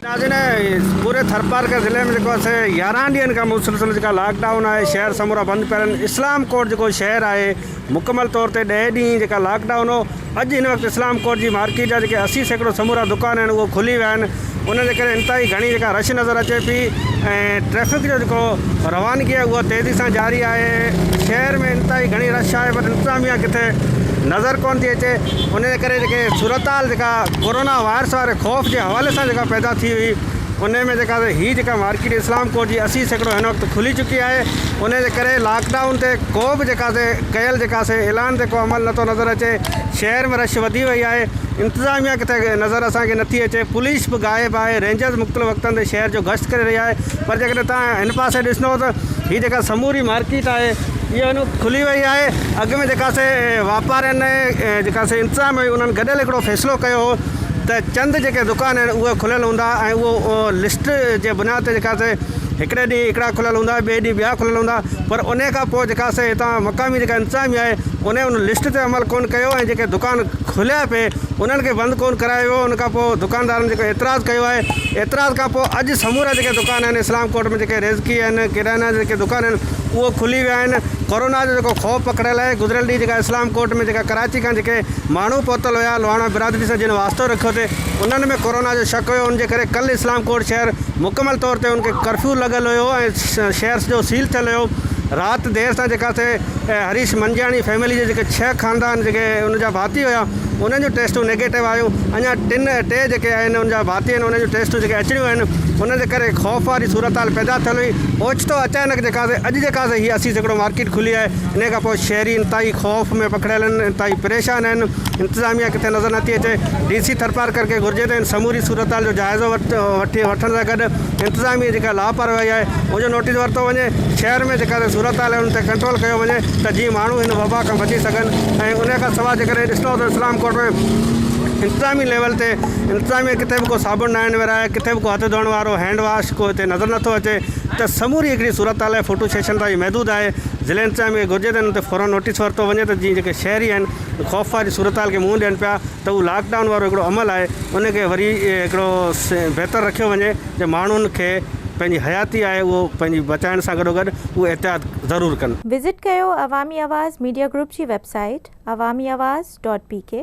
ناظرين پوري ٿرپارڪر ضلعي ۾ جيڪو اسي يارهن ڏينهن کان مسلسل جيڪا لاڪ ڊائون آهي شهر سمورا بند پيا رهن اسلام ڪوٽ جيڪو شهر آهي مڪمل طور تي ڏهه ڏينهن جيڪا لاڪ ڊائون هو اڄ هن وقت اسلام ڪوٽ جي مارڪيٽ جا جيڪي اسي سيڪڙو سمورا دڪان آهن اهي کلي ويا آهن ان جي ڪري انتهائي گهڻي جيڪا رش نظر اچي پئي ۽ ٽريفڪ جو جيڪو روانگي آهي اها تيزي سان جاري آهي شهر ۾ انتهائي گهڻي رش آهي پر انتظاميا ڪٿي نظر ڪونه ٿي اچي ان جي ڪري جيڪي صورتحال جيڪا ڪورونا وائرس واري خوف جي حوالي سان جيڪا پيدا ٿي هئي ان ۾ جيڪا هي جيڪا مارڪيٽ اسلام ڪوٽ جي اسي سيڪڙو هن وقت کلي چڪي آهي ان جي ڪري لاڪ ڊائون تي ڪو به جيڪا سي ڪيل جيڪا سي اعلان تي ڪو عمل نٿو نظر اچي شهر ۾ رش وڌي وئي آهي انتظاميا ڪٿي نظر اسان کي نٿي اچي پوليس به غائب آهي رينجرز مختلف وقتن تي شهر جو گشت ڪري رهي آهي پر جيڪڏهن توهان هن پاسي ڏسندو ته هي جيڪا سموري مارڪيٽ آهي اها هن وقت کلي وئي آهي اڳ ۾ جيڪا سي واپارين ۽ جيڪا سي انتظام هئي انهن گڏيل هڪڙو فيصلو ڪيو هو ته چند جيڪي دڪان آهن اهي کليل هوندا ۽ اهو لسٽ جي بنياد تي جيڪا سي هڪڙي ڏينهن هڪڙا کليل هوندا ٻئي ڏينهن ٻيا کليل هوندا پر انهي کان پوء جيڪا سي هتان مقامي جيڪا انتظاميا آهي انهي ان لسٽ تي عمل ڪونه ڪيو ۽ جيڪي دڪان کليا پئي انهن کي بند ڪون ڪرايو ويو ان کان پوء دڪاندارن جيڪو اعتراض ڪيو آهي اعتراض کان پوء اڄ سمورا جيڪي دڪان آهن اسلام ڪوٽ ۾ جيڪي ريزڪي آهن ڪريانه جا جيڪي دڪان آهن اهي کلي ويا آهن ڪورونا جو جيڪو خوف پکڙيل آهي گذريل ڏينهن جيڪا اسلام ڪوٽ ۾ جيڪا ڪراچي کان جيڪي ماڻهو پهتل هيا لواڻا برادري سان جن واسطو رکيو تي انهن ۾ ڪورونا جو شڪ هيو ان جي ڪري ڪل اسلام ڪوٽ شهر مڪمل طور تي ان کي ڪرفيو لڳل هيو ۽ شهر سڄو سيل ٿيل هيو رات دير سان جيڪا سي ۽ هريش منجياڻي فيملي جي جيڪي ڇهه خاندان جيڪي ان جا ڀاتي هيا انهن جون ٽيسٽون نيگيٽو آيون اڃا ٽن ٽي جيڪي آهن ان جا ڀاتي آهن انهن جون ٽيسٽون جيڪي اچڻيون آهن ان جي ڪري خوف واري صورتحال پيدا ٿيل هئي اوچتو اچانڪ جيڪا سي اڄ جيڪا سي هي اسي سيڪڙو مارڪيٽ کلي آهي انهي کان پوء شهري انتهائي خوف ۾ پکڙيل آهن انتهائي پريشان آهن انتظاميا ڪٿي نظر نٿي اچي ڊي سي ٿرپارڪر کي گهرجي ته ان سموري صورتحال جو جائزو وٺي وٺڻ سان گڏ انتظاميه جيڪا لاپرواهي آهي ان جو نوٽيس ورتو وڃي شهر ۾ جيڪا صورتحال آهي ان تي ڪنٽرول ڪيو وڃي ته جيئن ماڻهو هن وبا کان بچي سگهن ۽ ان کان سواء جيڪڏهن ڏسندا ته اسلام ڪوٽ ۾ انتظامي ليول تي انتظاميه ڪٿي به ڪو صابڻ نه آهن ورهايا ڪٿي به ڪو هٿ ڌوئڻ وارو هينڊ واش ڪو هتي نظر نٿو اچي ته سموري هڪڙي صورتحال فوٽو سيشن تائين محدود آهي ضلعي انتظاميه کي گهرجي ته ان تي فورن نوٽيس ورتو وڃي ته جيئن جيڪي شهري آهن خوف واري صورتحال کي منهن ڏين پيا ته اهو لاڪ ڊائون وارو هڪڙو عمل آهي ان کي وري هڪڙو بهتر رکيو وڃي ته ماڻهن کي پنهنجي حياتي آهي اهو پنهنجي بچائڻ سان گڏو گڏ اهو احتياط ضرور ڪن. وزٽ ڪيو عوامي آواز ميڊيا گروپ جي website Awami Awaz dot P ڪي.